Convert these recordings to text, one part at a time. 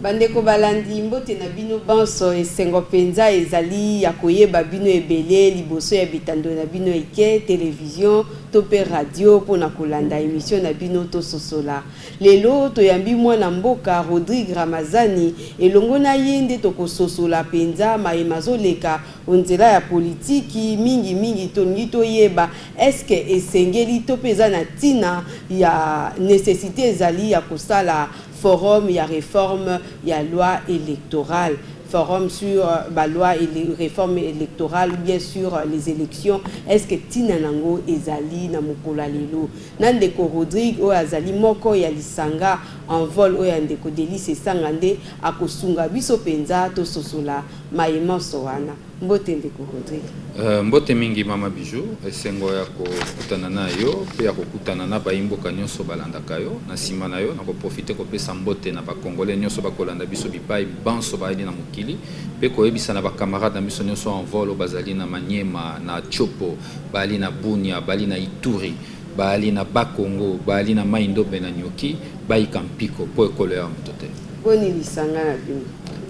Bandeko balandi, mbote na bino banso. Esengo mpenza ezali ya koyeba bino ebele liboso ya bitando na bino ike, televizio to mpe radio mpo na kolanda emisio na bino Tososola. Lelo, toyambi mwana mboka Rodrigue Ramazani, elongo na ye nde tokososola mpenza maye mazoleka o nzela ya politiki, mingi mingi tolingi toyeba eske esengeli to mpe eza na ntina ya necessite ezali ya kosala Forum ya reforme ya loi electorale, forum sur ba lois et reforme electorale ou bien sur les elections, est ce que tina nango ezali na mokolo ya lelo? Na ndeko Rodrigue oyo azali moko ya lisanga Envol oyo ya ndeko Delly Sessanga nde akosunga biso penza tososola maye manso wana. Mbote ndeko Rodrigue. Uh, mbote mingi mama Bijou, esengo ya kokutana na yo mpe ya kokutana na bayimboka nyonso balandaka yo. Na nsima na yo nakoprofite kopesa mbote na bakongole nyonso bakolanda biso bipai banso bayali na mokili mpe koyebisa na bakamarade na biso nyonso en volo bazali na Maniema, na Chopo, bayali na Bunia, bali na Ituri. Baali na Bas-Congo, baali na Mai-Ndombe na Nyoki, bayika mpiko mpo ekolo ya moto te. Boni lisanga na bino?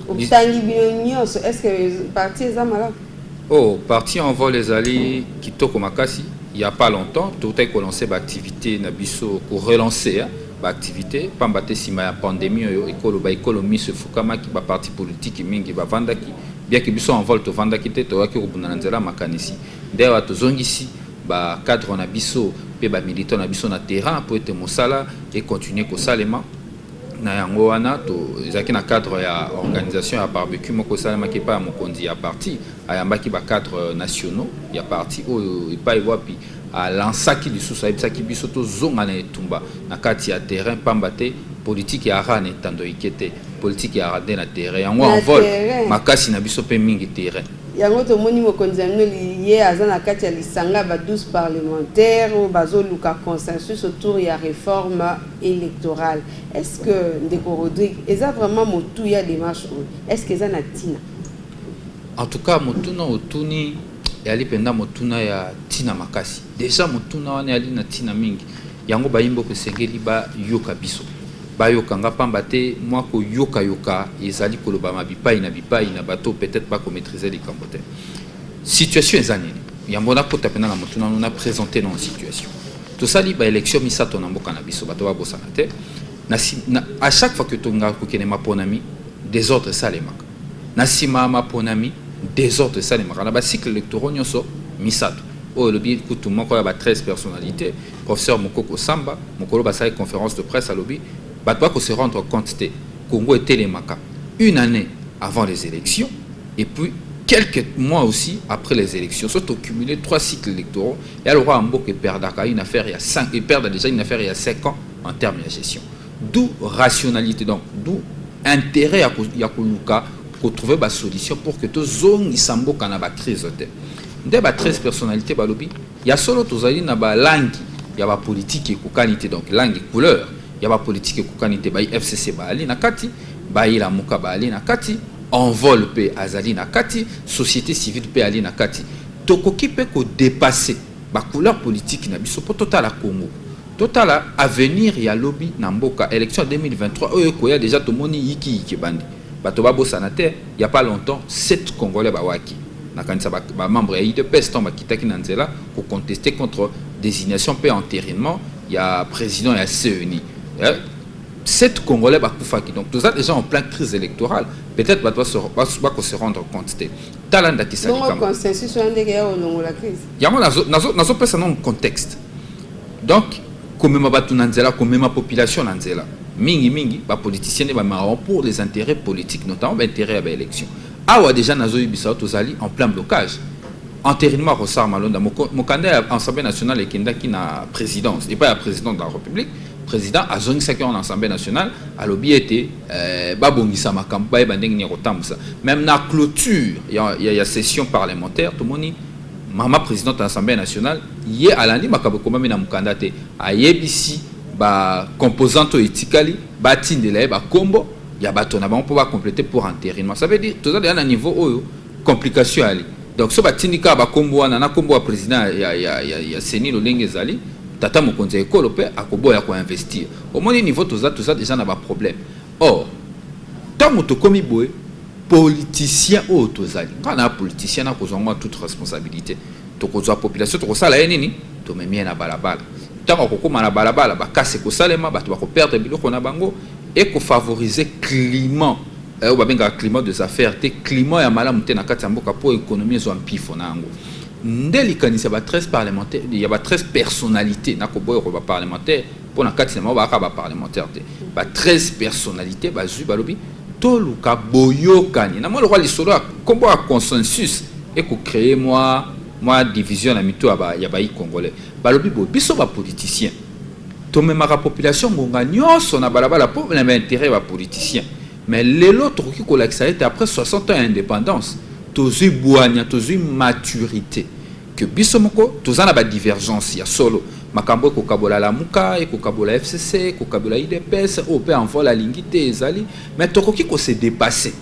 Otangi bino nyonso, est-ce que parti eza malamu? Oh, parti en vol ezali kitoko makasi. Il n'y a pas longtemps, tout a commencé l'activité na biso pour relancer hein, l'activité. Pamba te sima ya pandémie oyo ekolo ba ekolo miso efukamaki ba parti politique mingi ba vandaki bien que biso en vol to vandaki te to yaki ko bundana nzela makanisi. Ndewa to zongisi ba cadres na biso mpe ba militants na biso na terrain mpo ete mosala e continuer kosalema na yango wana ezalaki na cadre ya organisation ya barbecue moko esalemaki epai ya mokonzi ya parti ayambaki ba cadres nationaux ya parti oyo epai wapi alansaki lisusu ayebisaki biso tozonga na etumba na kati ya terrain pamba te politiki ya ran etando ike te politiki ya ran nde na terrain yango envol makasi na biso mpe mingi terrain Yango tomoni mokonzi ya mino liye aza na kati ya lisanga ya ba 12 parlementaires oyo bazoluka consensus autour ya reforme electorale. Est ce que ndeko Rodrigue eza vraiment motuya demarche oyo? Est ce que eza na tina? En tout cas motuna otuni eyali mpenza motuna ya ntina makasi deja motuna wana eyali na ntina mingi Yango bayi mboka esengeli ba yoka biso. Ba yoka nga pamba te mwa ko yoka yoka ezali kolobama bipayi na bipayi na bato oyo peut-etre ba ko maitriser likambo te. Situation eza nini? Yambo na kota pena na motuna no na presenter no situation. Tosali ba elections misato na mboka na biso bato ba bosana te. Na si, na, à chaque fois que tolingaka kokende maponami, desordre esalemaka. Na nsima ya maponami, desordre esalemaka na ba cycles electoraux nyonso misato. Oyo elobi kutu moko ya ba 13 personnalites, Professeur Mukoko Samba, mokolo basalaki conference de presse alobi, Bato ba ko se rendre compte te, Congo etelemaka une annee avant les elections et puis quelques mois aussi après les elections. Soki to cumuler trois cycles electoraux, eya lokola mboka eperdaka une affaire ya cinq, eperda dejà une affaire ya cinq ans en termes ya gestion. D'où rationalité donc d'où intérêt ya, ya koluka kotrouve basolution pour que tozongisa mboka na bacrise te nde ba 13 personnalité balobi ya solo tozali na balangi ya bapolitike ekokani te donc langue couleur ya bapolitike ekokani te bai fcc baali na kati bai lamuka baali na kati envol mpe azali na kati société civile mpe ali na kati tokoki mpe kodepasse bacouleur politike na biso mpo totala congo Totala avenir ya lobi na mboka. Election ya 2023 oyo ekoya dejà tomoni yiki yiki ebandi. Bato babosana te, il n'y a pas longtemps, sept congolais bawaki. Nakanisa ba membres ya udps tango bakitaki na nzela ko contester contre designation mpe enterinement ya president ya CENI. Sept congolais bakufaki. Donc toza dejà en plein crise electorale. Peut-être bato bako se rendre compte te. Tala ndakisa likambo. Bongo consensus wana ndenge ya olongola crise? Yango nazo pesa na contexte. Donc komema batu na nzela, komema population na nzela. Mingi mingi ba politiciens ba marrons pour les intérêts politiques, notamment ba intérêts ya ba élections. Awa déjà nazo yebisa tozali en plein blocage. Enterrement ya Rosar Malonda, mokanda ya Assemblée nationale ekendaki na présidence, epai ya président de la République. président azongisaki yango na assemblée nationale alobi ete euh, babongisa makambo bayeba ndenge nini ya kotambusa même na clôture ya, ya, ya session parlementaire tomoni Mama presidente ya Assemblee nationale ye alandi makambo ekomami na mokanda te, ayebisi ba composantes oyo etikali batindela ye bakombo ya bato na bango mpo ba completer pour enterrement. Ça veut dire toza dejà na niveau oyo complication eyali. Donc soki batindi kaka bakombo wana na kombo ya president ya, ya, ya, ya CENI lolenge ezali, tata mokonzi ya ekolo mpe akoboya ko investir. Omoni niveau toza, toza dejà na ba problèmes. Or tango tokomi boye politicien oyo tozali nga na politicien na kozwa ngo toute responsabilite tokozwa population tokosala ye nini tomemi ye na balabala ntango akokóma na balabala bakasi ekosalema bato bakoperdre biloko na bango ekofavorize climat eh, oyo babengaka climat des affaires te climat ya malamu te na kati ya mboka mpo ekonomi ezwa mpifo na yango nde likanisi ya ba 13 parlementaire ya ba 13 personnalité nakoboya ko ba parlementaire mpo na kati na bango baaka ba parlementaire te ba 13 personnalité bazwi balobi toluka boyokani na mwa lokola lisolo ya nkombo ya consensus ekocree mwa mwa division na mito ya bayi congolais balobi boye biso bapoliticien tomemaka population ngonga nyonso na balabala mpo na baintérêt ya bapoliticien mais lelo tokoki kolakisa ete après 60 ans ya indépendance tozwi bwanya tozwi maturité que biso moko toza na ba divergence ya solo makambo ekokabola lamuka ekokabola fcc ekokabola idps oyo mpe envol alingi te ezali mais tokoki ko se depasser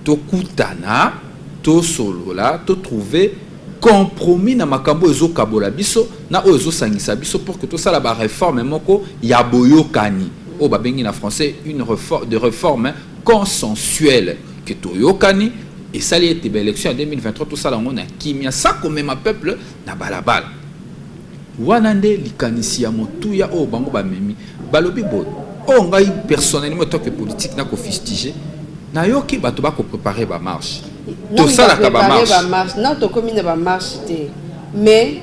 tokutana tosolola totrouve compromis na makambo oyo ezokabola biso na oyo ezosangisa biso pour que tosala ba réforme moko ya boyokani oyo babengi na français une réforme de réforme consensuelle que toyokani esali ete ba election ya 2023 tosala yango na kimia sa komema peuple na balabala wana nde likanisi ya motuya oyo bango bamemi balobi boye oyo oh, ngai personnellement toke politique nakofistige nayoki bato bakoprepare bamarche tosalaka bamarche na tokomi na bamarche te mais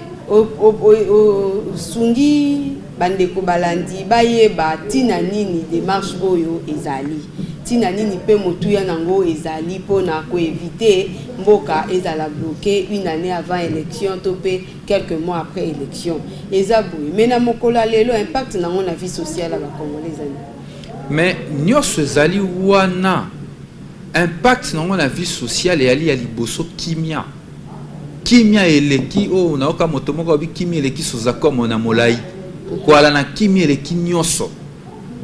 osungi Bandeko balandi bayeba ntina nini demarche oyo ezali, ntina nini mpe motuya nango ezali mpo na ko eviter mboka ezala bloquer une annee avant election to mpe quelques mois après election. Eza boye mais na mokolo ya lelo impact nango na vie sociale ya ba congolais eza nini? Mais nionso ezali wana impact nango na vie sociale eyali ya liboso kimia. Kimia eleki oh nayoka moto moko alobi kimia eleki sozakomo na molai koala na kimia eleki nyonso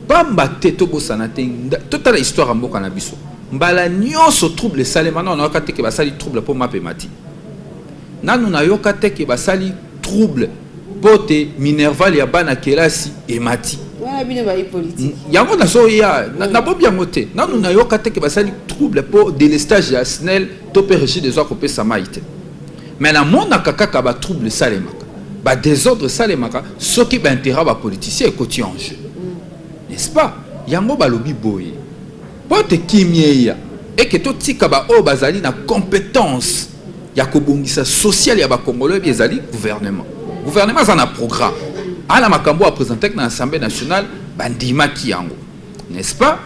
pamba te tobosana te totala histoire ya mboka na biso mbala nyonso trouble esalema nano nayoka te ke basali trouble mpo mape mati nano nayoka te ke basali trouble mpo te minerval ya bana kelasi emati yango nazoya nabobi yango te nano nayoka te ke basali trouble mpo delestage ya snel to mpe Regide ezo akopesa mai te mais namonaka kaka ba trouble esalemaka ba desordre esalemaka soki ba intérêt ba politicien ekoti en jeu n'est-ce pas yango balobi boye mpo ete kimia eya eke totika baoyo bazali na compétence ya kobongisa sociale ya bakongoloi bi ezali gouvernement gouvernement aza na programme ana makambo apresentaki na assemblée nationale bandimaki yango n'est-ce pas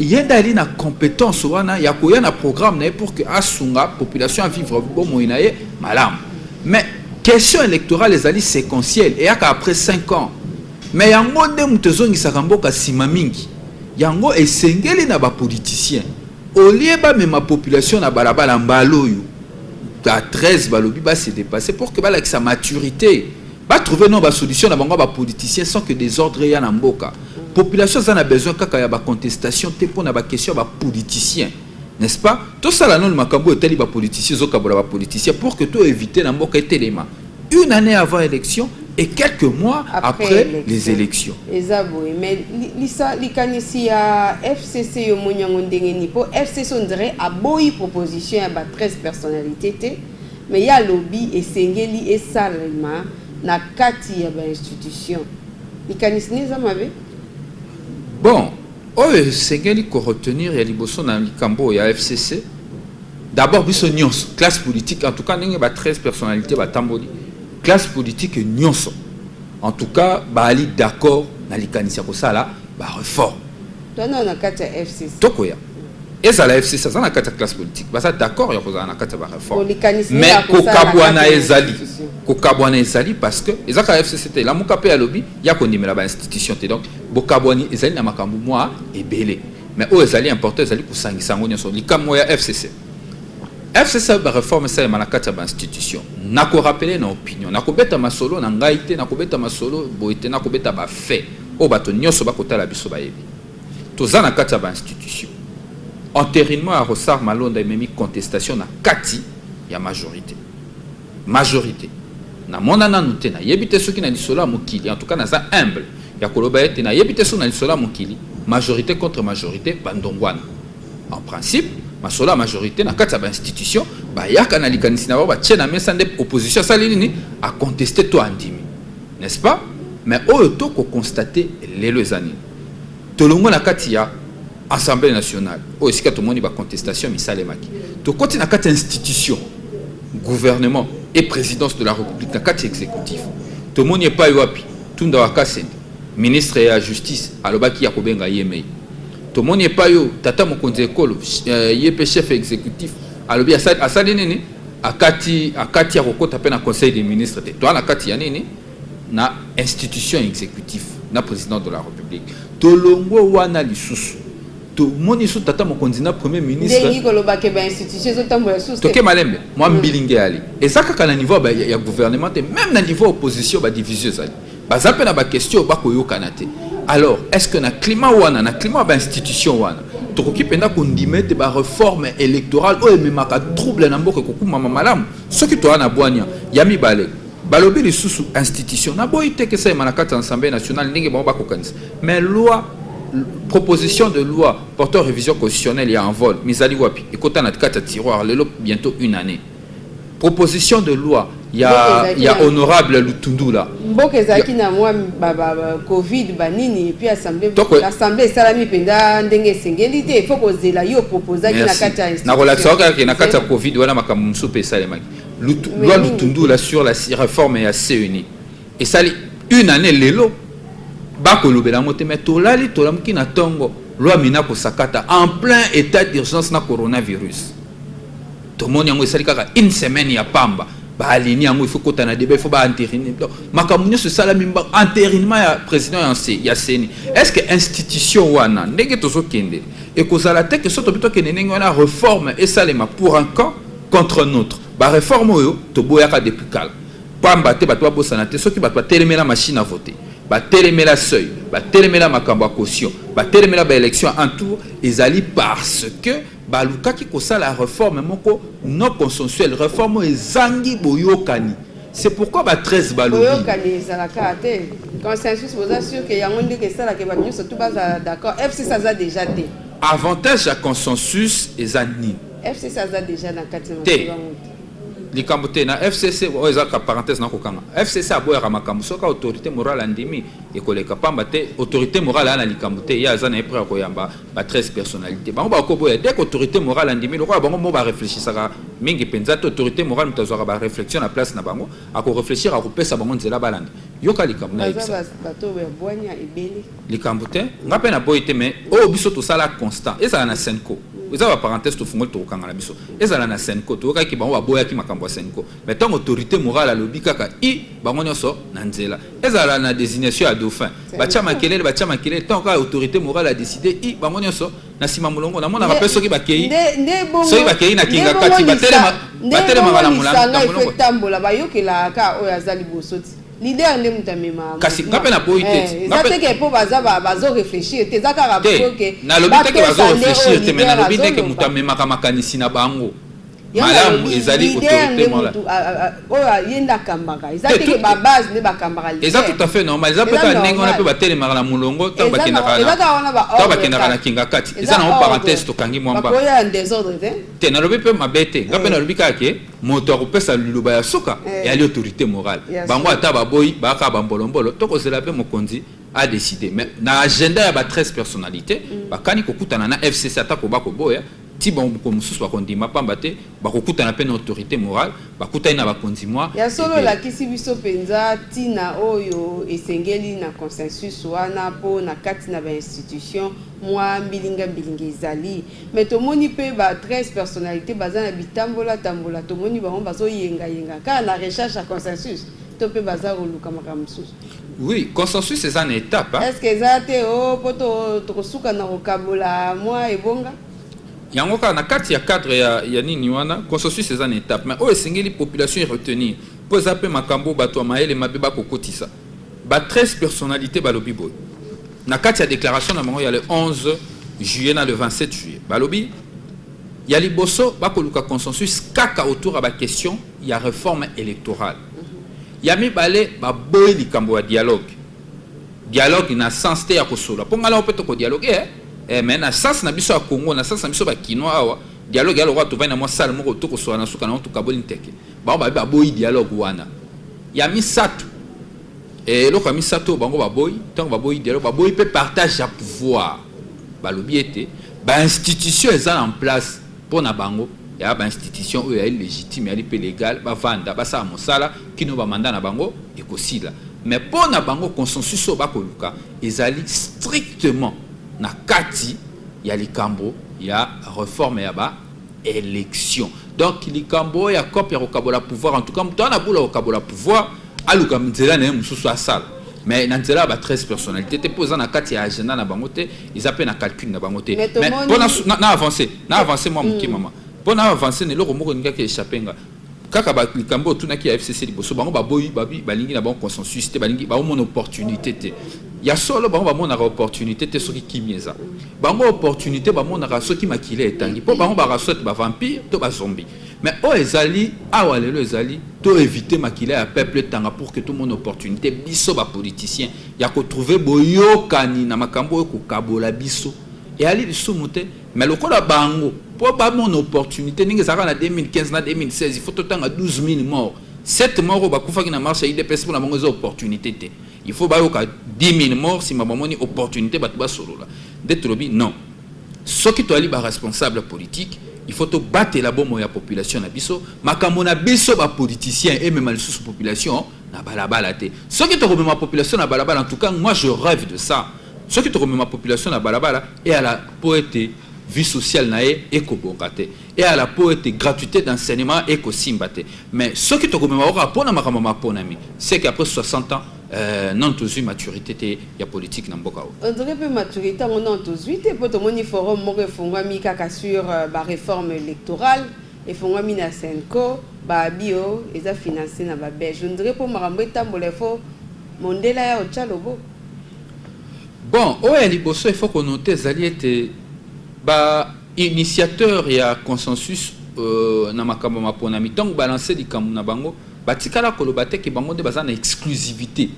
ye nde ali na compétence wana ya koya na programme na ye pour que asunga population ya vivre bomoi na ye malamu mais question électorale ezali séquentielle eyaka après 5 ans mais yango nde moto ezongisaka mboka nsima mingi yango esengeli na bapoliticien olie bamema population na balabala mbala oyo ba 13 balobi base dépasse pour que balakisa maturité Ba trouver non ba solution na bango ba politiciens sans que desordre ya na mboka. Population za na besoin kaka ya ba contestation te pona ba question ba politiciens. N'est-ce pas? To sala non makambo etali ba politiciens zo kabola ba politiciens pour que to éviter na mboka etelema. Une année avant élection et quelques mois après, après élection. les élections. Eza boye mais lisa likanisi ya FCC yo monyango ndenge ni po FCC on dirait aboyi proposition ya ba 13 personnalités te. Mais ye alobi esengeli esalema na kati ya ba institutions. Likanisi naye eza mabe? Bon, oyo esengeli ko retenir ya liboso na likambo oyo ya FCC, d'abord biso nionso classe politique, en tout cas ndenge ba 13 personnalites batamboli, classe politique nionso en tout cas baali d'accord na likanisi ya kosala ba reformes. Toza nanu na kati ya FCC. Tokoya. ezala fcc aza na kati ya classe politique baza d'accord ya kozala na kati ya bareforme mais kokabwana ezali kokabwana ezali parce que eza kaka fcc te elamuka mpe alobi ya kondimela bainstitution te donc bokabwani ezali na makambo mwa ebele mais oyo ezali important ezali kosangisa yango nyonso likambo ya fcc fcc bareforme esalema na kati ya bainstitution nakorapele na opinion nakobeta masolo na ngai te nakobeta masolo boye te nakobeta bafait oyo bato nyonso bakotala biso bayebi Toza na kati ya ba institutions. Enterinement ya Rosar Malonda ememi contestation na kati ya majorite. Majorite. Na mona nanu te, na yebi te soki na lisolo ya mokili, en tout cas naza humble ya koloba ete na yebi te soki na lisolo ya mokili, majorite contre majorite ba ndongwana. En principe, masolo ya majorite na kati ya ba institutions bayaka na likanisi na bango batie na mesa nde opposition asali nini? A contester to andimi. N'est-ce pas? Mais oyo to ko constater lelo eza nini? Tolongwe na kati ya Assemblee nationale oyo esika tomoni ba contestation misalemaki, tokoti na kati ya institution gouvernement et presidence de la Republique na kati ya executif, tomoni epai wapi Tunda wa Kasende ministre ya justice alobaki ya kobenga ye mei, tomoni epai oyo tata mokonzi ekolo euh, ye mpe chef executif alobi asali nini akati akati ya kokota mpe na conseil des ministres te toa na kati ya nini na institution executif na president de la republique tolongwe wana lisusu tomoni so tata mokonzi na premier ministretoke malembe mwa mm. mbilinge yali eza kaka na niveau ya gouvernement te même na niveau opposition badivision ezali baza mpe na baquestion bakoyokana te alors est ce que na climat wana na climat ya bainstitution wana tokoki mpenza kondima ete bareforme électorale oyo ememaka trouble na mboka ekokumama malamu soki toya na bwania ya mibale Balobi lisusu institution na boyi te kesa na kati ya Assemblée nationale ndenge bango bakokanisa mais loi proposition de loi portant révision constitutionnelle ya envol mizali wapi ekota na kati ya tiroir lelo bientôt une année proposition de loi ya, ya honorable lutundula mboka ezalaki na mwa covid banini epuis assemblée esalami mpenza ndenge esengeli te ifo kozela yo proposaki na kati ya nakolakisa kaka na kati ya covid wana makambo mosusu mpe esalemaki loi lutundula sur la réforme ya ceni esali une année lelo bakolobela yango te mais tolali tolamuki na ntongo loi mina kosakata en plein état d'urgence na coronavirus tomoni yango esali kaka une semaine ya pamba baalini yango ifo kota na deba ifo baanterine makambo nyonso esalami enterinement ya président ya ceni est ce que institution wana ndenge tozokende ekozala te ke so tobi tokende ndenge wana réforme esalema pour un camp contre un autre ba reforme oyo toboyaka depuis kala pamba te bato babosana te soki bato batelemela machine à voter batelemela seuil batelemela makambo ya caution batelemela ba élection en tour ezali parce que balukaki kosala reforme moko non consensuelle reforme oyo ezangi boyokani c'est pourquoi ba 13 balobi boyokani ezalaka te consensus boza sûr que yango ndenge esalaka bato nyonso tu bazala d'accord fcc aza déjà te avantage ya consensus eza nini FCC aza deja na kati na te likambo te na FCC oyo ezalaka parenthèse na kokanga FCC aboyaka makambo soki autorité morale andimi ekoleka pamba te autorité morale aya na likambo te ye aza na ye près ya koyamba ba 13 personnalité bango bakoboya dès qu'autorité morale andimi lokola bango mo bareflechisaka mingi mpenza te autorité morale moto azwaka baréflexion na place na bango akoreflechir akopesa bango nzela balanda yoka likambo na yebisa likambo te nga pe na boyi te mais oyo biso tosala constant ezala na senco eza ba parenthèse tofungoli tokokanga na biso ezala na senco toyokaki bango baboyaki makambo ya senco me ntango autorité morale alobi kaka i bango nyonso na nzela ezala na désignation ya dauphin batya makelele batya makelele ntango kaka autorité morale adécide i bango nyonso na nsima molongo namonaka mpe soki bakei soki bakei na kinga kati batelemaka na molongo bayokelaka oyo aza liboso ti Leader nde mutu amema. Kasi nga pe na boyi te. Eh, eza te ke po baza bazo réfléchir te eza kaka po ke. Na lobi te ke bazo réfléchir te mais na lobi te ke mutu amemaka makanisi na bango. malamu ezali autorité mola oyo ye nde akambaka eza teke babase nde bakambaka eza tout à fait normal eza peut-être ndenge wana mpe batelemaka na molongo ntango bakendaka na kinga kati eza nango parenthèse tokangi mwa mbaka te nalobi mpe mabe te nga mpe nalobi kaka ke Moto akopesa liloba ya suka eh. eyali autorite morale yes. Bango ata baboyi baka bambolombolo tokozela mpe mokonzi a décidé mais na agenda ya ba 13 personnalités mm. bakani kokutana na FCC ata koba koboya ti bango mosusu bakondima pamba te bakokutana mpe na autorité morale bakutani na bakonzi mwa ya solo olakisi biso mpenza ntina oyo esengeli na consensus wana mpo na kati na bainstitution mwa mbilingambilinga ezali Mais tomoni pe ba 13 personnalites baza na bitambola tambola tomoni bango bazo yenga yenga kaka na recherche ya consensus to pe baza koluka makambo mosusu Oui, consensus eza na étape. hein. est-ce que eza te o po to- tokosuka na kokabola mwa ebonga yango kaka na kati ya cadre ya, ya nini wana consensus eza na étape mais oyo esengeli population eretenir mpo eza mpe makambo oyo bato ya mayele mabe bakokotisa Ba 13 personnalites balobi boye na kati ya declaration na bango ya le 11 juillet na le 27 juillet balobi ya liboso bakoluka consensus kaka autour ya baquestion ya réforme électorale ya mibale baboyi likambo ya dialogue dialogue na sens te ya kosola mpo ngai nao mpe tokodialogue eh? eh, mais na sens na biso ya congo na sens na biso bakinois awa dialogue ya lokola tovandi na mwa sale moko tokosola na suka na yango tokaboli nteke Bango babi baboyi dialogue wana. Ya misato, eh, eloko ya misato oyo bango baboyi, ntango baboyi dialogue, baboyi mpe partage ya pouvoir. Balobi ete bainstitution eza na place mpo na bango ya bainstitution oyo yali légitime yali mpe légal bavanda basala mosala kino bamanda na bango ekosila mais mpo na bango consensus oyo bakoluka ezali strictement na kati ya likambo ya reforme ya ba election donc likambo oyo ya cope ya kokabola pouvoir en tout cas moto wana bula kokabola pouvoir aluka nzela na ye mosusu asala mais na nzela ya ba 13 personnalité te mpo eza na kati ya agenda na bango te eza mpe na calcul na bango te Mais mais tomoni- mpo na- na na avance na avance mwa moke Mm. mama mpo na avance na eloko moko ningaki echappe nga kaka ba likambo otunaki ya FCC liboso bango baboyi babi balingi na bango consensus te balingi bango mona opportunité te ya solo bango bamonaka opportunité te soki kimia eza bango opportunité bamonaka soki makila etangi mpo bango baka soit bavampire to bazombi mais oyo ezali awa lelo ezali to éviter makila ya peuple etanga pour que tomona opportunité biso bapoliticien ya kotrouve boyokani na makambo oyo kokabola biso eyali lisumu te Mais lokola bango po ba mona opportunite ndenge ezalaka na 2015 na 2016 il faut totanga 12000 morts 7 morts oyo bakufaki na marche ya udps mpona bango eza opportunité te il faut bayoka 10000 morts nsima bamoni opportunité bato basolola nde tolobi non soki toyali baresponsable politique il faut tobatela bomoi ya population na biso makambo na biso bapoliticien emema lisusu population na balabala te soki tokomema population na balabala en tout cas moi je rêve de ça soki tokomema population na balabala eyala mpo ete vie sociale na ye ekobonga te eyala mpo ete gratuité d'enseignement ekosimba te mais soki tokomema kaka mpo na makambo maponami seke après 60 ans euh, nanu tozwi maturité te ya politique na mboka oyo ondire mpe maturité yango nanu tozwi te mpo tomoni forum moko efungwami kaka sur euh, bareforme électorale Efongwami na cenco ba abus oyo eza financer na ba belge on dirait po makambo etambola il faut mondele aya otia loboko. Bon oyo ya liboso il faut ko noter ezali ete ba initiateur ya consensus euh, na makambo maponami ntango balancer likambo na bango batikala koloba te ke bango nde baza na exclusivité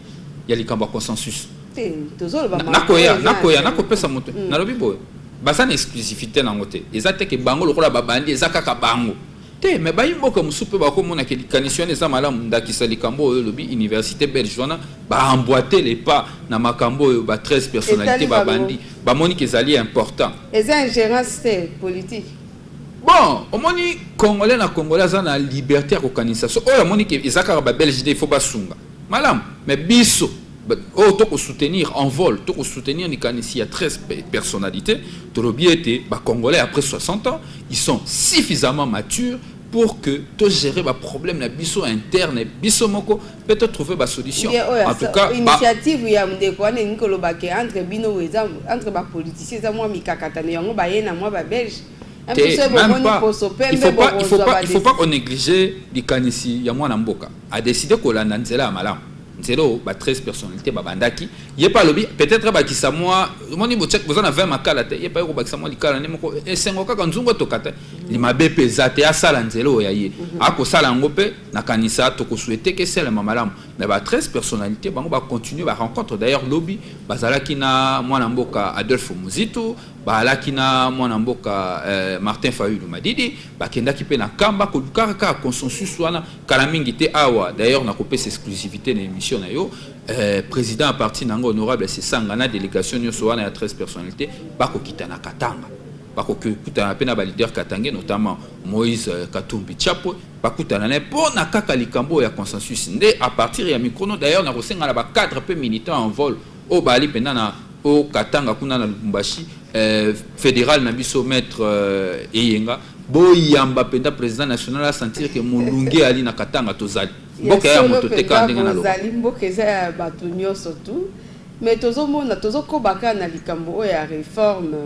ya likambo ya consensus. Te tozoloba makambo. Nakoya nakoya nakopesa moto mm. nalobi boye. Baza na exclusivite nango te. Eza te ke bango lokola ba bandi eza kaka bango. Te mais bayi mboka mosusu pe bako mona ke likanisi wana eza malamu ndakisa likambo oyo olobi universite belge wana ba emboite le pas na makambo oyo ba 13 personnalite ba bandi ba moni ke ezali important. Eza ingerence te politique. Bon, omoni congolais na congolais aza na liberté ya kokanisa. So oyo amoni ke eza kaka ba belge nde il faut basunga. Malamu mais biso oyo to ko soutenir en vol to ko soutenir likanisi ya 13 personnalités tolobi ete ba congolais après 60 ans ils sont suffisamment matures pour que to gérer ba problème na biso interne biso moko pe to trouver ba solution en tout cas initiative ba... ya ndeko wana ni ko loba ke entre bino eza entre ba politiciens eza moi mikakatano yango ba yena moi ba belge te même pas il faut pas il faut pas il faut pas qu'on néglige likanisi ya mwana mboka a décider kolanda nzela ya malamu nzela oyo ba 13 personnalités babandaki ye mpe alobi peut-être abakisa mwa omoni boza na 20 makala te ye mpe aye kobakisa mwa likala nde moko esengo kaka nzungu etoka te limabe mpe eza te asala nzela oyo ya ye mhm. akosala yango mpe nakanisa tokosouete ke esalema malamu mais ba 13 personnalités bango bacontinue barencontre d'ailleurs lobi bazalaki na mwana mboka adolphe muzitu baalaki na mwana mboka eh, martin fayulu madidi bakendaki mpe na kamba kolukaka kaka consensus wana kala mingi te awa d'ailleurs nakopesa exclusivité na émission na yo euh, président ya parti na yango honorable sesanga na délégation nyonso wana ya 13 personnalité bakokita na katanga bakokutana mpe na baleader katange notamment moïse euh, katumbi chapo bakutana na ye mpo na kaka likambo oyo ya consensus nde à partir ya mikrono d'ailleurs nakosenga na bacadre mpe militant en vol oyo baali mpenza na o katanga kuna na lubumbashi eh, federal na biso maître eh, eyenga boyamba mpenza président national asentir ke molunge ali na katanga tozali mboka ya moto te kaka ndenge nalobazali mboka eza ya bato nyonso tu mais tozomona tozokoba kaka na likambo oyo ya réforme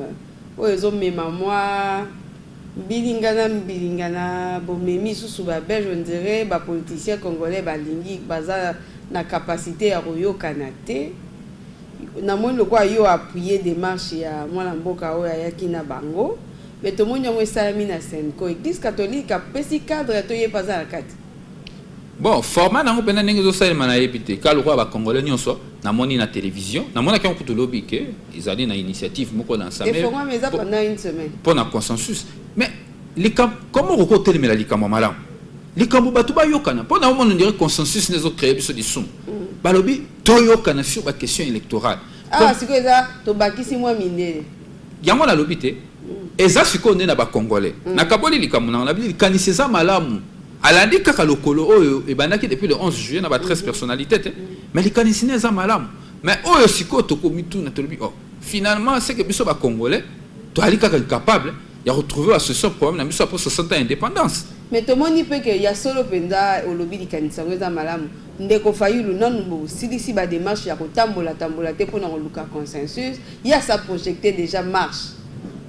oyo ezomema mwa mbilinga na mbilinga na bomemi susu babelge ondire bapoliticien congolais balingi baza na kapasité ya koyokana te Namoni lokola yo appuyer demarche ya mwana mboka oyo ayaki na bango mais tomoni yango esalami na Senco. Eglise catholique apesi cadre ya toyebi aza na kati. Bon, format nango pena ndenge ezosalema nayebi te ka lokola bacongolais nyonso namoni na télévision namonaki yango kutu lobi ke ezali na initiative moko na nsambe mpo na consensus mais likambo koma okoki otelemela likambo ya malamu likambo bato bayokana mpo na omona ndire consensus na ezocreye biso lisumu mm. balobi toyokana sur ba question électorale awa ah, sikoyo eza tobakisi mwa mindele yango nalobi te mm. eza sikoyo nde na bacongolais mm. nakaboli likambo nango nabi likanisi eza malamu alandi kaka lokolo oyo ebandaki depuis le 11 juillet na ba 13 mm. personnalité te mais likanisi ne eza malamu mais oyo sikoyo tokomituna tolobi oh finalement seke biso bacongolais toyali kaka incapable ya kotrouve basolution problème na biso apres 60 ans indépendance mais tomoni mpe ke ya solo mpenza olobi likanisi yango eza malamu Ndeko Fayulu, nanu bo silisi ba demarches ya ko tambola tambola te pona ko luka consensus. Ye a sa projecter dejà marche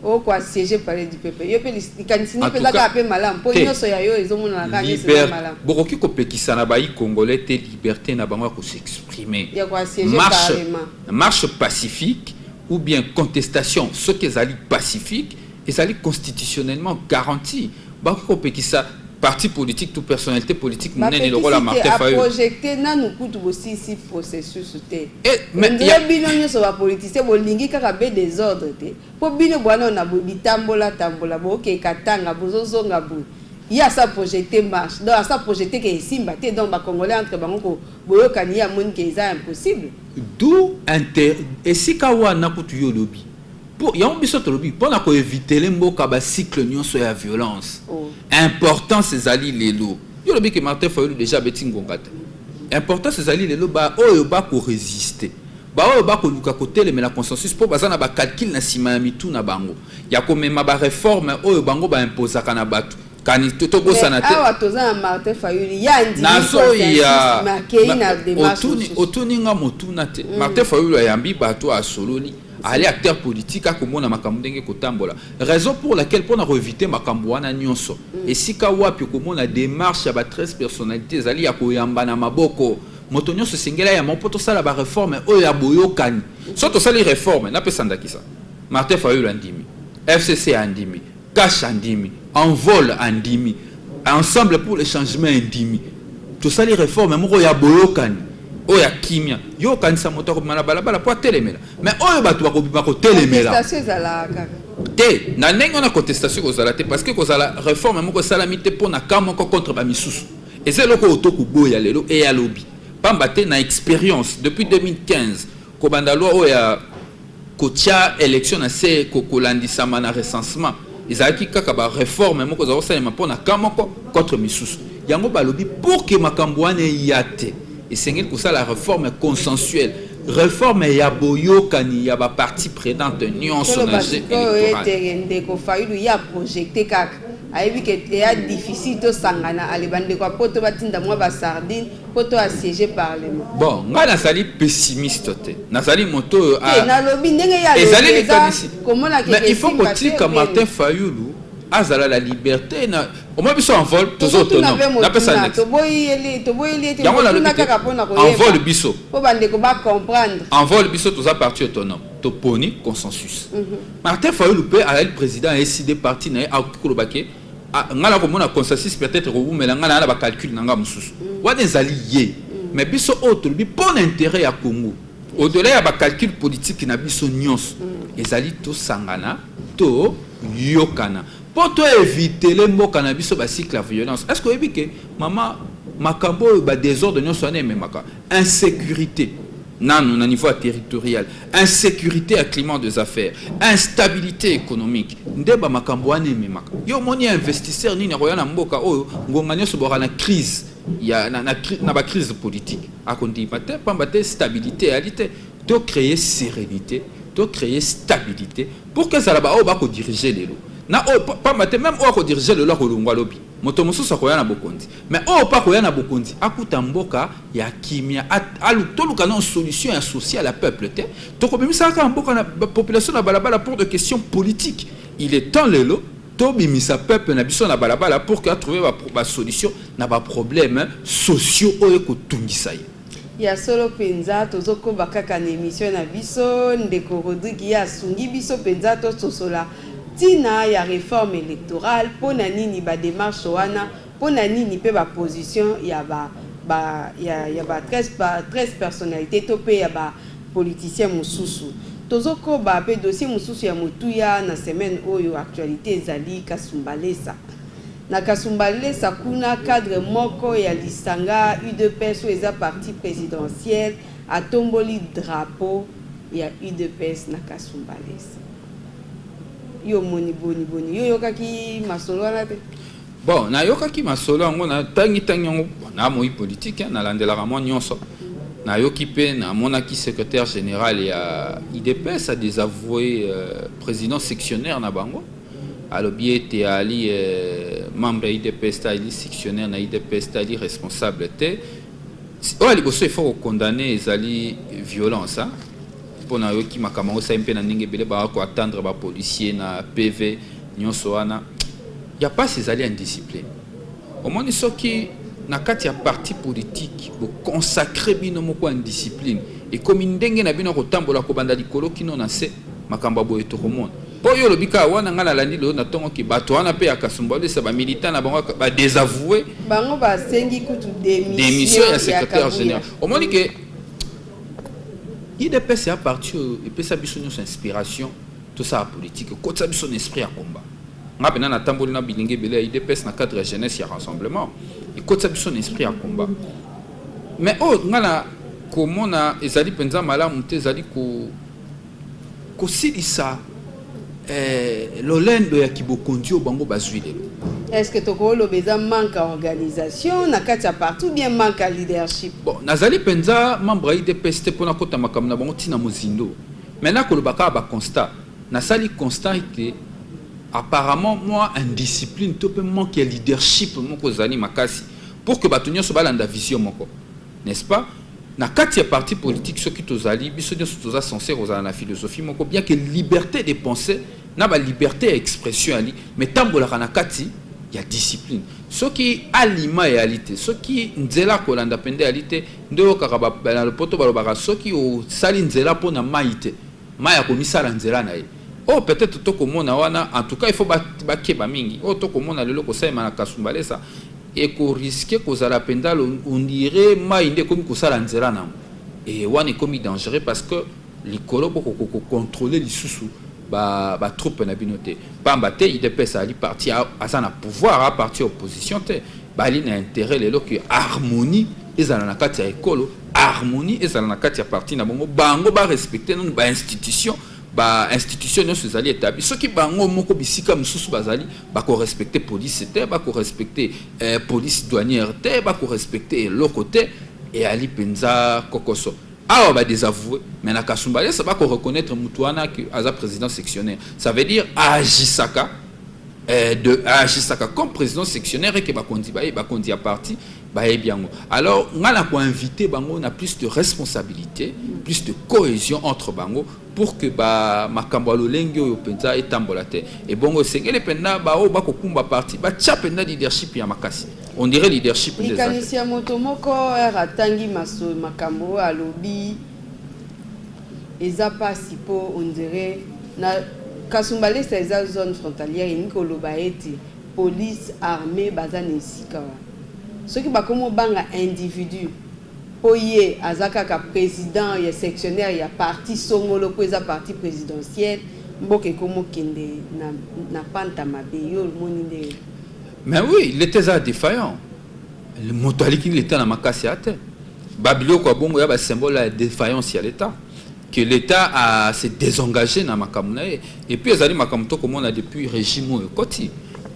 o ko assieger palais du peuple. Yo pe likanisi nini pe eza kaka pe malamu po nionso ya yo ezo monana kaka neti eza malamu. Bo koki ko pekisa na bayi congolais te liberte na bango ya ko s'exprimer. Ya ko assieger carrement. Marche pacifique ou bien contestation soki ezali pacifique ezali constitutionnellement garantie. Bakoki kopekisa parti politique to personnalite politique monene lokola Martin Fayulu. Ba projecter nanu kutu bosisi processus te. Eh, mais ya bino nyoso ba politiciens bolingi kaka be désordre te. Po bino bwana na bitambola tambola bo ke katanga bozo zonga boye. ye asa projete marche donc asa projete ke esimba te donc bacongolais entre bango boyokani ye amoni ke eza impossible du inter esika wana kutu yo olobi Po yango biso tolobi pona ko evitele mboka ba cycle nionso ya violence. Oh. Importance ezali lelo. Yo lobi ke Martin Fayulu deja abeti ngonga te. Importance ezali lelo ba oyo ba ko resister. Ba oyo ba ko luka ko telemela consensus po baza na ba calcul na sima ya mitu na bango. Ya ko mema ba reforme oyo bango ba imposaka na batu. kani tobosana te awa toza na martin fayulu ye andimiazoyaotuni nga motuna te mm. martin fayulu ayambi bato asololi Allez acteur politique à akomona makambo ndenge kotambola raison pour laquelle pona koevite makambo wana nyonso mm. esika wapi okomona démarche ya ba 13 personnalité ezali ya koyamba na maboko moto nyonso esengeli ayamba mpo tosala bareforme oyo ya boyokani so tosali reforme napesa ndakisa martin fayulu andimi fcc andimi Cash andimi, Envol andimi, Ensemble pour le changement endimi. Tosali reforme moko ya boyokani, oyo ya kimia. Yo okanisa moto akobima na balabala mpo atelemela, mais oyo bato bakobima kotelemela. Contestation ezalaka kaka. Te, na ndenge wana contestation ekozala te parce que ekozala reforme moko esalami te mpo na camp moko contre ba misusu. Eza eloko oyo tokoboya lelo et ya lobi. Pamba te na experience depuis 2015 kobanda loi oyo ya Kotya election na se ko kolandisama na recensement ezalaki kaka ba reforme moko ezalaki kosalema mpo na camp moko contre misusu. Yango balobi pour que makambo wana eya te esengeli kosala reforme consensuelle reforme ya boyokani ya ba parties prenantes nyonso na jeu electoral. Toloba ndeko Fayulu ya projecte kaka ayebi ke eya difficile tosangana ale bandeko ya poto batinda mwa ba sardine Poto a siège parlement. Bon, nga nazali pessimiste te. Nazali moto oyo a eh, nalobi ndenge ya ezali likanisi. Mais il faut kotika Martin Fayulu azala la liberté na omoi biso en vol toza autonome napesa yango nalobi te en vol biso en vol biso toza parti autonome toponi consensus mhm. martin fayulu mpe azali président ya eside parti na ye akoki koloba ke Ah, nga na komona consensus peut-être kowumela nga na na bacalcule na nga mosusu mm. wana ezali ye mm. mais biso oyo tolobi mpo na intérêt ya congo au-delà ya bacalcule politique na biso nyonso mm. ezali tosangana toyokana mpo toevitele mboka na biso bacycle ya violence est ce que oyebi ke mama makambo oyo badésordre nyonso wana ememaka insecurite nanu na niveau ya territorial insecurite ya climat des affaires instabilité économique nde bamakambo wana ememaka yo omoni ya investisseur nini akoya na mboka oyo ngonga nyonso boka na crise ya, na, na, na bacrise politique akondima te mpamba te stabilité eyali te to créer sérénité to créer stabilité pour que ezala baoyo bakodirige lelo na oyo mpamba te meme oyo akodirige lelo akolongwa lobi moto mosusu akoya na bokonzi Mais oyo pe akoya na bokonzi akuta mboka ya kimia alu toluka nao solution ya social ya peuple te tokobimisa kaka mboka na population na balabala pour de question politique il est temps lelo tobimisa peuple na biso na balabala pour que atrouve ba, ba solution na ba problème sociaux oyo kotungisa ye ya solo mpenza tozokoba kaka na emission na biso ndeko rodrigue ye asungi biso mpenza tososola ntina ya réforme électorale mpo na nini bademarche wana Mpo na nini mpe ba position ya ba ba ya ya ba 13 ba 13 personnalites to mpe ya ba politiciens mosusu? Tozo koba mpe dossier mosusu ya motuya na semaine oyo actualite ezali Kasumbalesa. Na Kasumbalesa kuna cadre moko ya lisanga udps oyo eza parti presidentiel atomboli drapeau ya udps na Kasumbalesa. Yo omoni boni boni? Yo oyokaki masolo wana te? Bon, nayokaki masolo yango, natangi tangi yango, na moi politique, nalandelaka mwa nyonso. Nayoki mpe namonaki secrétaire général ya IDPS a désavoué euh, président sectionnaire na bango alobi ete ali euh, membre ya IDPS te ali sectionnaire na IDPS te ali responsable te oyo ya liboso efo kokondane ezali violence hein? mpo nayoki makambo yango esali mpe na ndenge ebele baa koatendre bapolicier na pv Nionso wana ya pasi ezali indiscipline. Omoni soki na kati ya parti politique bo consacrer bino moko indiscipline ekomi ndenge na bino kotambola kobanda likolo kino na se makambo ya boye tokomona. Mpo yo olobi kaka wana ngai nalandi lelo na ntongo ki bato wana mpe ya kasumba olesa bamilitant na bango badesavoue bango basengi kutu demission ya secrétaire général omoni ke idps ya parti oyo epesa biso nyonso inspiration Tosala politique ekotisa biso na esprit ya combat. Nga pena natamboli na bilingi ebele ya UDPS na cadre ya jeunesse ya rassemblement ekotisa biso na esprit ya combat. Mais oyo oh, nga na komona ezali mpenza malamu te ezali ko kosilisa eh, lolendo ya kibokonzi oyo bango bazwi lelo est-ce que tokoloba eza manque ya organisation na kati ya partout bien manque ya leadership bon nazali mpenza membre ya idps te mpo nakota makambo na bango ntina mozindo Mais n'a koloba kaka ba constat na sali constat ete apparemment moi indiscipline to pe manque ya leadership moko zali makasi pour que bato nyonso balanda vision moko n'est-ce pas na kati ya parti politique soki tozali biso nyonso toza censé kozala na philosophie moko bien que liberté de penser na ba liberté ya expression ali mais tambolaka na kati ya discipline soki alima eyali te soki nzela akolanda mpenza eyali te Nde oyokaka ba na lopoto balobaka soki osali nzela mpo na mayi te mayi akomisala nzela na ye oyo peut etre tokomona wana en tout cas il faut bakeba mingi oyo tokomona lelo kosalema na kasumbalesa ekoriske kozala mpenza on dirait mayi nde ekomi kosala nzela na yango e wana ekomi dangereux parce que likolo boko ko ko controle lisusu ba ba troupe na bino te pamba te idps ali parti aza na pouvoir a parti opposition te bali na intérêt lelo que harmonie ezala na kati ya ekolo harmonie ezala na kati ya parti na bango bango ba respecter nanu ba institution ba institution nyonso ezali etabli soki bango moko bisika mosusu bazali bakorespecte police te bakorespecte eh, police douanière te bakorespecte eloko te eyali mpenza kokoso Awa ba desavouer mais na Kasumbalesa ba ko reconnaître mutu wana que aza président sectionnaire. Ça veut dire agisaka euh, de agisaka comme président sectionnaire et que ba kondi ba ba kondi à parti ba biango. Alors ngana ko inviter bango na plus de responsabilité, plus de cohésion entre bango pour que ba makambo ya lolenge oyo mpenza etambola te ebongo esengeli mpenza baoyo bakokumba parti batya mpenza leadership ya makasi on dirait leadership likanisi ya moto moko r atangi maso makambo oyo alobi eza mpasi mpo on dirait na kasumbalesa eza zone frontalière elingi koloba ete police armée baza na esika wana soki bakomi obanga individu Po ye aza kaka president ya sectionnaire ya parti songolo po eza parti presidentielle mboka ekomo kende na na panta mabe yo omoni nde. Mais oui l'etat eza defaillant moto aliki l'etat na makasi a te ba biloko ya bongo ya ba symbole ya defaillance ya l'etat que l'etat a se désengagé na makambo na ye et puis ezali makambo to komona depuis régime oyo ekoti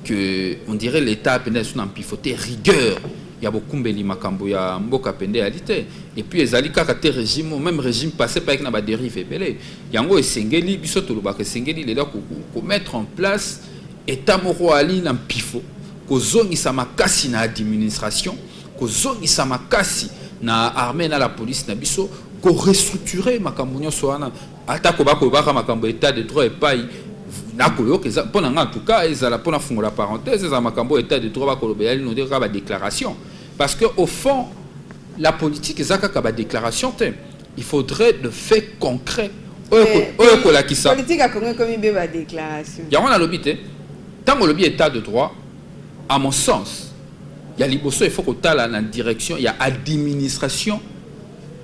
que on dirait l'etat pena esu na mpifote rigueur ya bokumbeli makambo ya mboka pende eyali te et puis ezali kaka te regime meme regime passé mpe ayaki na baderive ebele yango esengeli biso tolobaka esengeli lelo komettre en place etat moko ali na mpifo kozongisa makasi na administration kozongisa makasi na armée na la police na biso korestructure makambo nyonso wana Atako bakolobaka makambo ya etat de droit epai nakoyoka eza mpo na ngai antuka ezala mpo nafungola parenthèse ezala makambo oyo etat de droit bakoloba eyali node kaka badéclaration parce que au fond la politique eza kaka badéclaration te il faudrait de fait concret oyo eh, ekolakisa yango nalobi te ntango olobi état de droit à mon sens ya liboso il faut kotala na direction ya administration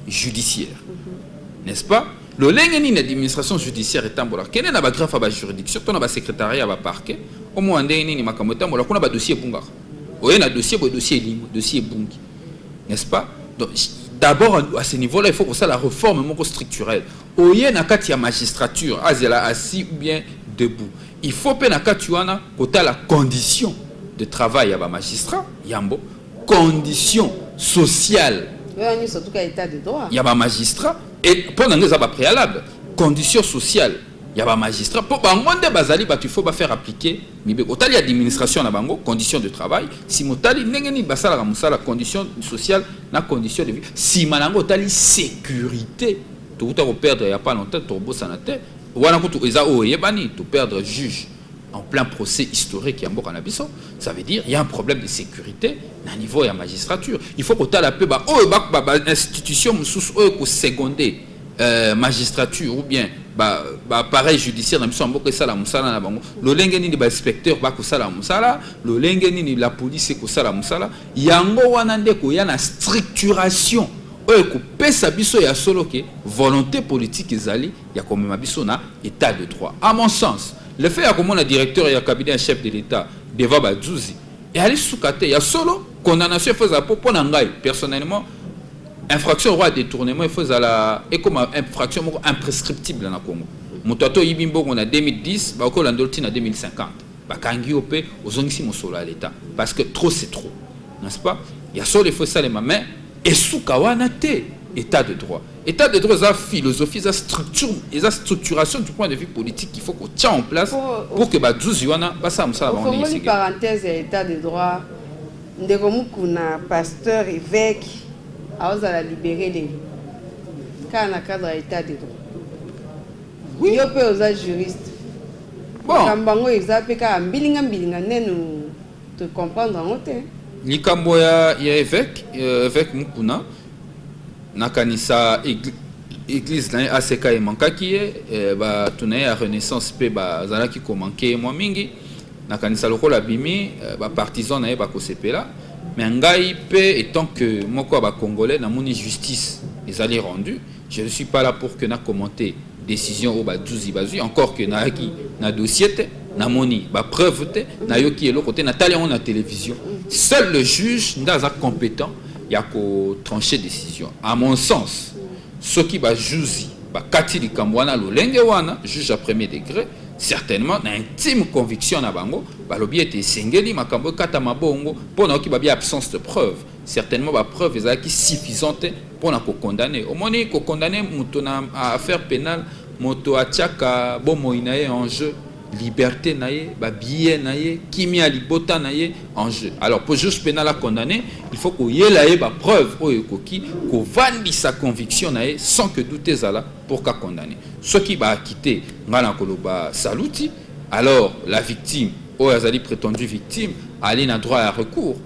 judiciaire n'est-ce pas lolenge nini administration judiciaire etambola kende na bagrafe ya bajuridiction to na basecrétariat ya baparquet omona ndenge nini makambo etambola kuna badossier ebungaka oye na dossier boye dossier elimbo dossier ebungi n'est-ce pas donc d'abord à ce niveau là il faut kosala réforme moko structurelle oye na kati ya magistrature azela assis ou bien debout il faut mpe na kati wana kotala condition de travail ya bamagistrat yambo condition sociale ya ba magistrat et mpo na ngai eza ba préalable condition sociale ya ba magistrat mpo bango nde bazali bato ifo bafaire appliquer mibeko otali administration na bango condition de travail nsima otali ndenge nini basalaka mosala condition sociale na condition de vie nsima na yango otali sécurité tokuta koperdre ya pas longtemps tokobosana te wana kutu eza oyo eyebani toperdre juge en plein procès historique ya mboka na biso ça veut dire il y a un problème de sécurité na niveau ya magistrature il faut kotala mpe baoyo bainstitution mosusu oyo ekoseconde euh, magistrature ou bien baappareil judiciaire na biso ya mboka esala mosala na bango lolenge nini bainspecteur bakosala mosala lolenge nini la police ekosala mosala yango wana nde koya na structuration oyo ekopesa biso ya solo ke volonté politique ezali ya komema biso na etat de droit. A mon sens, le fait ya komona directeur ya cabinet ya chef de l'Etat devant ba zuzi eyali suka te. Ya solo condamnation il faut ezala po pona ngai personnellement infraction roi détournement il faut ezala ekoma infraction moko imprescriptible na Congo. Moto ato yibi mbongo na 2010 bakola ndolti na 2050 bakangi yo pe ozongisi mosolo ya l'Etat parce que trop c'est trop. n'est ce pas ya solo faut esalema mais esuka wana te état de droit état de droit eza philosophie eza structure eza structuration du point de vue politique il faut qu'on tient en place pour que bazuzi wana basala mosala bango ndenge esengeli parenthèse ya état de droit ndeko mukuna pasteur évêque aozala libéré nini kaka na cadre ya état de droit oui. yo mpe oza juriste makambo bon. yango eza mpe kaka mbilinga mbilinga nenu To comprendre yango te. Likambo ya ya eveque euh, eveque Mukuna nakanisa eglise eglise na ye aseka emankaki ye eh, bato na ye ya renaissance mpe bazalaki komanke ye mwa mingi nakanisa lokola abimi eh, bapartisan na ye bakosepela me ngai mpe etant que moko ya bacongolais namoni justice ezali rendu Je ne suis pas là pour que na commenter decision oyo ba zuzi bazwi encore que nayaki na dossier te namoni ba preuve te nayoki eloko te natali yango na télévision seul le juge nde aza compétent ya ko trancher décision à mon sens soki ba juzi bakati likambo wana lolenge wana juge ya premier degré certainement na intime conviction na bango balobi ete esengeli makambo ekatama bongo mpo nayoki babia absence de preuve Certainement ba preuves ezalaki suffisante mpo na ko condamner. Omoni ko condamner moto na affaire penale, moto atiaka bomoi na ye en jeu, liberté na ye, ba billets na ye, kimia ya libota na ye en jeu. Alors pour juge penal a condamner, il faut koyela ye ba preuves oyo ekoki kovandisa conviction na ye sans que doute ezala pour ka condamner. Soki ba acquitter, nga nakoloba saluti. Alors la victime oyo azali pretendue victime ali na droit ya recours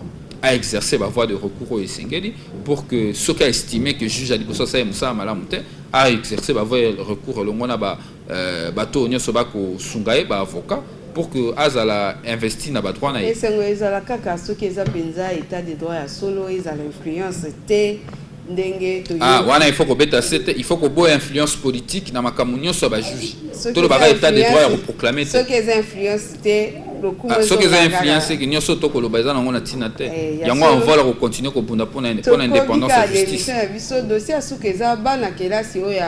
a exercer ba voie de recours oyo esengeli pour que soki a estime que juge ya liboso asali mosala malamu te a exercer ba voie ya recours elongo na ba euh, bato oyo nyonso bakosunga ye ba avocat pour que azala investi na badroit na ye esengo ezala kaka soki eza mpenza etat de droit ya solo ezala influence te Ah, wana il faut kobeta sete il faut koboya influence politique na makambo nyonso ya bajuge tolobaka état de droit ya koproclame te soki eza influence te ah, soki eza influence eke nyonso tokoloba eza nango na ntina te eh, yango anvola kocontinue kobunda mpo na indépendance ya justice na biso dossier ya suka eza bana kelasi oyo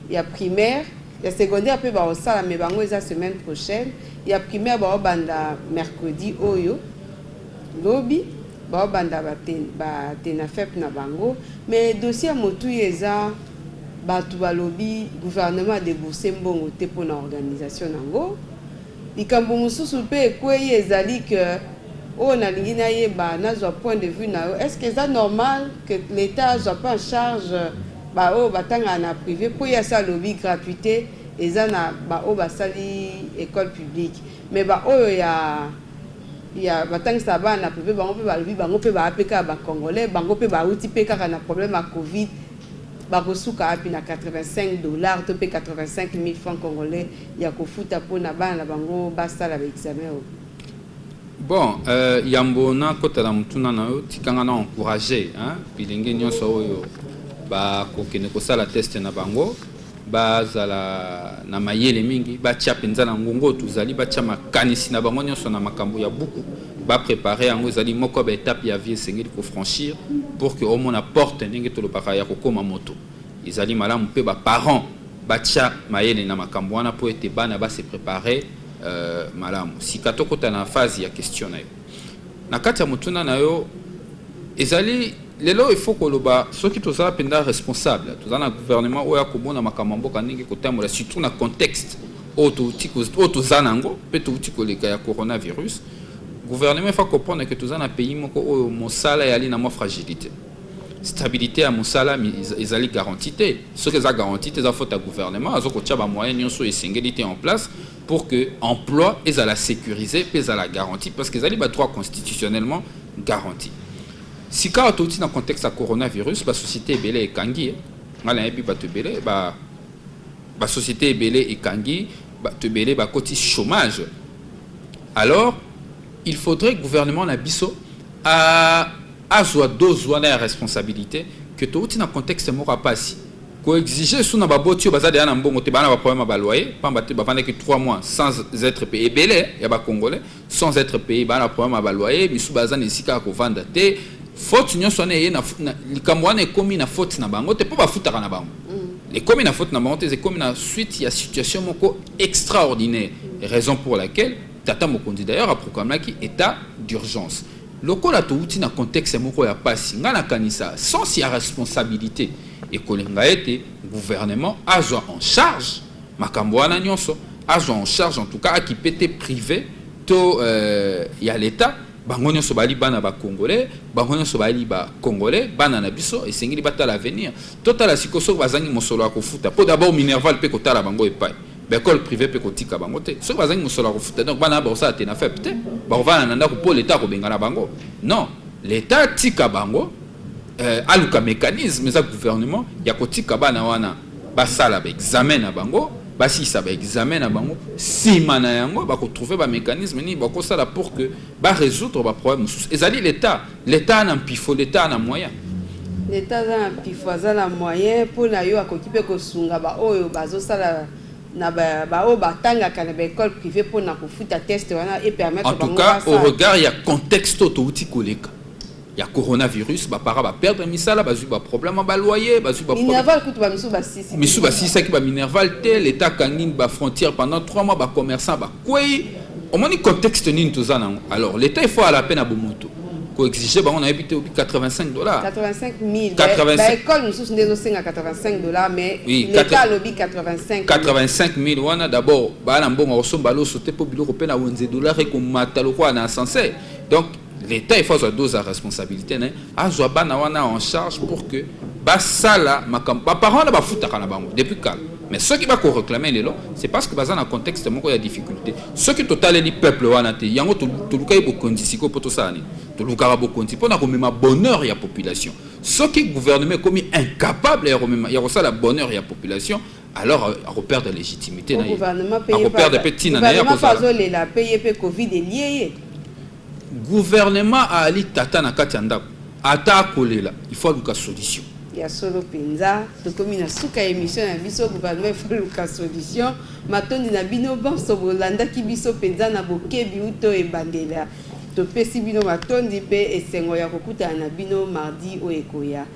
ya primaire ya secondaire mpe baosala me bango eza semaine prochaine ya primaire baobanda mercredi oyo Lobi bao banda ba tenafep na bango mais dossier ya motuya eza batu balobi gouvernement a debourse mbongo te pona organisation nango. Likambo mususu pe ekweyi ezali que oyo nalingi nayeba nazwa point de vue nayo est ce que eza normal que l'etat azwa pe en charge ba oyo batangaka na prive po ye asi alobi gratuite eza na ba oyo basali ecole publique Mais ba oyo ya ya batangisa bana na prive bango mpe balobi bango mpe baa mpe kaka ba congolais bango mpe bauti mpe kaka na problème ya covid bakosuka wapi na 85 dollars to mpe 85 mille francs congolais ya kofuta mpo na bana na bango basala ba examen oyo bon euh, yambo nakota na motuna na yo tikanga na encourage bilenge nyonso oyo bakokende kosala teste na bango bazala na mayele mingi, batya mpenza na ngongo oyo tozali, batya makanisi na bango nyonso na makambo ya buku, baprepare yango. Ezali moko ya baetape ya vie esengeli kofranchir pour que omona porte ndenge tolobaka ya kokoma moto. Ezali malamu mpe baparent batya mayele na makambo wana mpo ete bana base prepare euh, malamu. Sika tokota na phase ya question na yo. Na kati ya motuna na yo ezali lelo il faut koloba soki toza mpenza responsable toza na gouvernement oyo akomona makambo ya mboka ndenge kotambola surtout na contexte oyo touti oyo toza na yango mpe touti koleka ya coronavirus gouvernement efa comprendre ke toza na pays moko oyo mosala eyali na mwa fragilité stabilité ya mosala ezali garantie te soki eza garantie te eza faute ya gouvernement aza kotya bamoyen nyonso esengeli te en place pour que emploi ezala sécurisé mpe ezala garantie parce que ezali ba droit constitutionnellement garantie sikawa touti na contexte ya coronavirus basociété ebele ekangi ye ngai nayebi bato ebele ba basociété ebele ekangi bato ebele bakoti chômage alors il faudrait gouvernement na biso azwa dose wana ya responsabilité que touti na contexte moko ya mpasi Ko exiger sous na ba boti oyo baza deja na mbongo te, baza na ba problème ya ba loyer, pamba te bavandaki 3 mois sans etre paye, ebele ya ba congolais sans etre paye, baza na problème ya ba loyer, misusu baza na esika ya kovanda te, faute nionso wana eye na, na likambo wana ekomi na faute na bango te, po bafutaka na bango ekomi na faute na bango te, ekomi na suite ya situation moko extraordinaire, raison pour laquelle tata mokonzi d'ailleurs a proclamaki etat d'urgence. Lokola towuti na contexte moko ya pasi, nga na kanisa sens ya responsabilite ekolinga ete gouvernement azwa en charge makambo wana nionso, azwa en charge en tout cas akipe te prive to ya l'etat, bango nionso bazali bana ba congolais, bango nionso bazali ba congolais, bana na biso esengeli batala avenir. Totala sikoyo soki bazangi mosolo ya kofuta po d'abord minerval pe kotala bango epayi. Ba ecole prive pe kotika bango te soki bazangi mosolo ya kofuta donc bana bakosala te na fep te bakovana na ndako mpo leta akobenga na bango non leta atika bango euh, aluka mécanisme eza gouvernement ya kotika bana wana basala baexamen na bango basilisa baexamen na bango nsima na yango bakotrouve bamécanisme nini bakosala pour que barésoudre baproblème mosusu ezali leta L'etat na mpifo, l'etat na moyen. L'etat aza na mpifo, aza na moyen mpo na yo, akoki mpe kosunga baoyo bazosala na baoyo batangaka na baekole privé mpo na kofuta test wana epermettre bango. En tout cas, au regard ya contexte oyo touti koleka ya coronavirus bapara baperdre misala bazwi baproblème ya baloyer bazwi bamisu basisaki baminerval te leta akangi bafrontière pendant 3 mois bacommerçant ba Kweyi omoni contexte nini toza nango alors l'etat il faut ala pe na bomoto ko exige bango na yebi te obi 85 dollars 85 000 85 ba école mosusu nde ezosenga 85 dollars mais oui, l'etat alobi 85 85 000 wana d'abord baa na mbongo akosomba loso te mpo biloko mpe na wenze dollar ekomata lokola na ascenseur donc L'Etat il faut azwa dose ya responsabilité na ye, azwa bana wana en charge pour que basala makambo ba parents wana bafutaka na bango depuis kala mais soki bako réclamer lelo c'est parce que baza na contexte moko ya difficulté soki totaleli peuple wana te yango tolukaki bokonzi sikoyo mpo tosala nini tolukaka bokonzi mpo na komema bonheur ya population soki gouvernement ekomi incapable ya komema ya kosala bonheur ya population alors ako perdre légitimité na ye ako perdre pe tina na ye azo lela pe ye pe covid elie ye gouvernement ali tata na kati ya ndako ata akolela il faut aluka solution ya solo mpenza tokomi na suka ya émission na biso gouvernement efoluka solution matondi na bino banso bolandaki biso mpenza na bokebi uto ebandela topesi bino matondi mpe esengo ya kokutana na bino mardi oyo ekoya